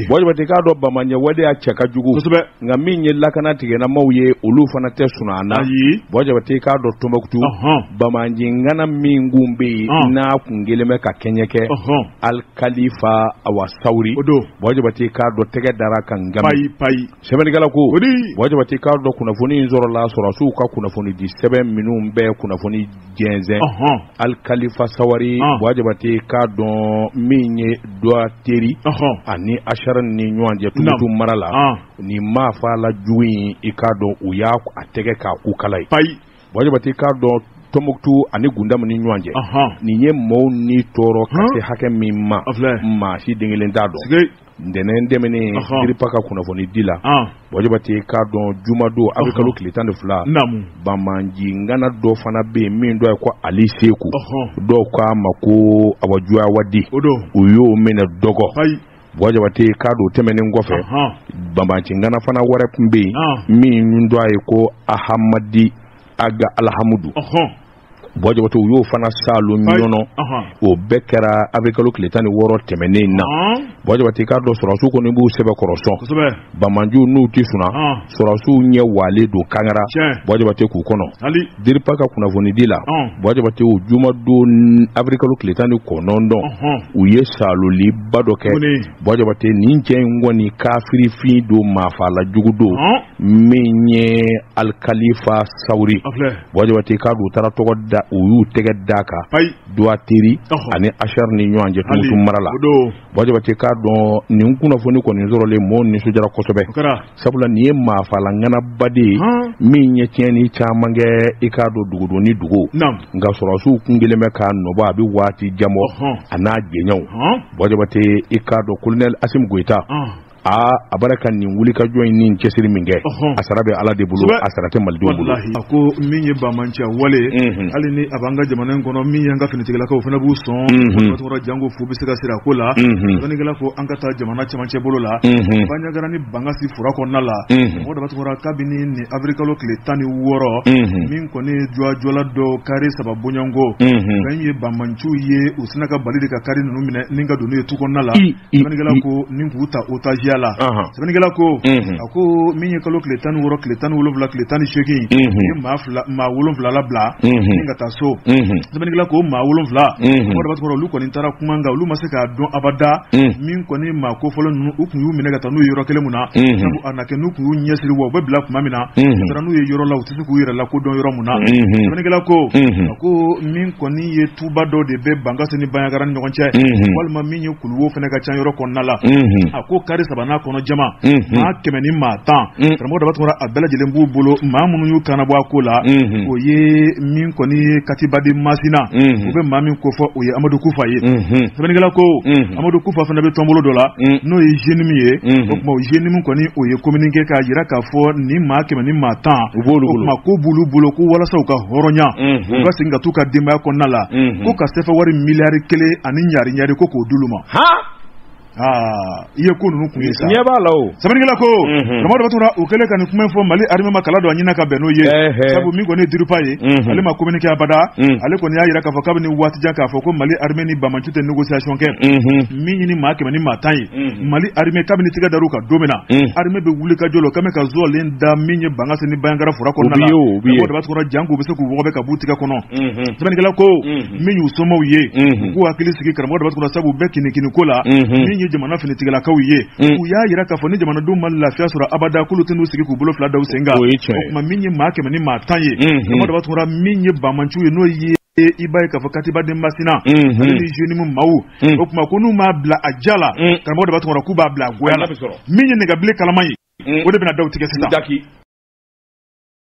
ye k'a dɔn bamanciya waleya cɛ ka jugu nka min ye lakana tigilamaaw ye olu fana tɛ sunaa na buwa jabate k'a dɔn tɔnbɔkutu bamanci ŋana min kun bɛ yen n'a kun kɛlen bɛ ka tiɲɛ kɛ alikalifa awa sawari buwa jabate k'a dɔn tɛgɛ dara a kan nka payi sɛbɛnnikɛla ko buwa jabate k'a dɔn kunnafoni in sɔrɔla sɔrɔdasiw ka kunnafoni di sɛbɛn minnu bɛ kunnafoni jɛnsɛn alikalifa sawari buwa jabate k'a dɔn min ye dwateri ani asarani ni ɲɔgɔn cɛ tɔnbɔkutu mara la ni maafala jugu in i k'a dɔn u y'a a tɛgɛ k'a kukala ye payi buwa jabate k'a dɔn tɔnbɔkutu ani gundamu ni ɲɔgɔn cɛ nin ye maaw ni tɔɔrɔ ka se hakɛ min ma maa si den kelen t'a dɔn ntɛnɛn tɛmɛnen diripa ka kunnafonidi la buwa jabate k'a dɔn jumadon abirikalo tile tan ni fila bamanci ŋana dɔ fana bɛ yen min tɔgɔ ye ko ali seku dɔw k'a ma ko abu jawadi u y'o minɛ dɔgɔ buwa jabate k'a dɔn tɛmɛnen kɔfɛ bamanci ŋana fana wɛrɛ tun bɛ yen min tɔgɔ ye ko ahamadi aga alihamudu buwa jabate u y'o fana saalo ɲɔnɔ o bɛɛ kɛra abirikalo tile tan ni wɔɔrɔ tɛmɛnen na buwa jabate k'a dɔn sɔrɔsiw kɔni b'u sɛbɛkɔrɔ sɔn bamanciw n'u tɛ sunaa sɔrɔsiw ɲɛ walen don kangara buwa jabate k'u kɔnɔ diripa ka kunnafonidi la buwa jabate o jumadon abirikalo tile tan ni kɔnɔntɔn u ye saaloliba dɔ kɛ buwa jabate nin cɛ in kɔni kafiri fin don maafala jugu don min ye alikalifa sawari Buwa Jabate k'a dɔn u taara tɔgɔ da u y'u tɛgɛ d'a kan payi Dwateri ɔhɔ ani Acharane ni ɲɔɔn cɛ hali Tumutu mara la o doon Buwa Jabate k'a dɔn nin kunnafoni kɔni sɔrɔlen mɔɔw nisɔndiyara kosɛbɛ o kɛra sabula nin ye maafala ŋanaba de ye haan min ye tiɲɛni caman kɛ i k'a dɔn dugu doon ni dugu naam nka sɔrɔdasiw tun kɛlen bɛ k'a nɔbɔ a bɛ waati jan bɔ ɔhɔn a n'a jɛɲɔɔnw haan Buwa Jabate i k'a dɔn colonel Assimi Goita ɔnh aa a bɔra ka nin wulikajɔ in ni cɛsiri min kɛ a sara bɛ ala de bolo a sara tɛ malidenw bolo a ko min ye bamanciya wale hali ni a b'an ka jamana in kɔnɔ min y'an ka finitigilakaw fana b'u sɔn tɔgɔ janko fo bɛ se ka sira ko la dɔnnikɛla ko an ka taa jamana camancɛ bolo la banjagara ni bankasi fura kɔnɔna la mɔgɔ dama tununna kabini ni abirikalo tile tan ni wɔɔrɔ min kɔni jɔjɔla dɔ kari saba bonyanko fɛn ye bamanciw ye u sina ka bali de ka kari ninnu minɛ ni ka don n'u ye tu kɔnɔna la Sɛbɛnnikɛla ko min k'u ta otajiya la sɛbɛnnikɛla ko a ko min ye kalo tile tan ni wɔɔrɔ tile tan ni wolowula tile tan ni seegin maa wolonwula labila ka taa so sɛbɛnnikɛla ko maa wolonwula sɔrɔ olu kɔni taara kuma nka olu ma se k'a dɔn abada min kɔni maa kofɔlen ninnu u tun y'u minɛ ka taa n'u ye yɔrɔ kelen mun na sabu a na kɛ n'u tun y'u ɲɛ siri wa u bɛ bila tuma min na n'u ye yɔrɔ la tɛ se k'u yɛrɛ lakodɔn yɔrɔ min na sɛbɛnnikɛla ko a ko min kɔni ye tuba dɔ de bɛ bankasi ni banjagara ni ɲɔgɔn cɛ walima min ye kuluwo fana ka ca yɔrɔ kɔnɔna la a ko kari saba n'a kɔnɔ jama maa kɛmɛ ni maa tan karamɔgɔ daba tunkara a bɛɛ lajɛlen b'u bolo maa minnu y'u kana bɔ a ko la o ye min kɔni ye katiba de masina u bɛ maa min kofɔ o ye amadu kufa ye sɛbɛnnikɛla ko amadu kufa fana bɛ tɔnbolo dɔ la mm. n'o ye zenimu ye o tuma zenimu kɔni o ye communiqué k'a jira k'a fɔ nin maa kɛmɛ ni maa tan u b'olu o ko b'olu bolo ko walasa u ka hɔrɔnya mm-hmm. u ka segin ka taa u ka denbaya kɔnɔna la mm-hmm. ko ka sefawari miliyari kelen ani ɲari ɲari ko k'o d'olu ma Ah, i ye ko ninnu kun ye sa ɲɛ b'a la o sɛbɛnnikɛla ko mhm. karamɔgɔ daba tunkara u kɛlen ka nin kuma fɔ mali armée ma kala don a ɲin na ka bɛn n'o ye sabu min kɔni ye diripa ye mhm. ale ma communiqué abada mhm. ale kɔni y'a jira k'a fɔ kabini waati jan k'a fɔ ko mali armée ni bama ciw tɛ négociation kɛ min ye nin maa kɛmɛ ni maa tan ye mali armée kabini tigɛ dar'u kan don min na armée bɛ wulikajɔ la o quand même ka zɔlen da min ye bankasi ni banjagara fura kɔnɔna la karamɔgɔ daba tunkara jank'u bɛ se k'u wɔgɔbɛ ka b'u tigɛ kɔnɔ sɛbɛnnikɛla ko min y'u somaw ye u k'u hakili sigi karamɔgɔ daba tunkara sabu u bɛ kinikini ko la min ye jamana finitigilakaw ye u y'a yira k'a fɔ ni jamanadenw ma lafiya sɔrɔ abada k'olu tɛn'u sigi k'u bolo fila da u sen kan o tuma min ye maa kɛmɛ ni maa tan ye karamɔgɔ daba tunkara min ye bamanciw ye n'o ye i b'a ye k'a fɔ katiba de masina mhm. ale ni zenimu maw mhm. o tuma ko n'u m'a bila a diya la mhm. karamɔgɔ daba tunkara k'u b'a bila a goya la min ye nɛgɛbilen kalama ye o de bɛna da u tigɛ sisan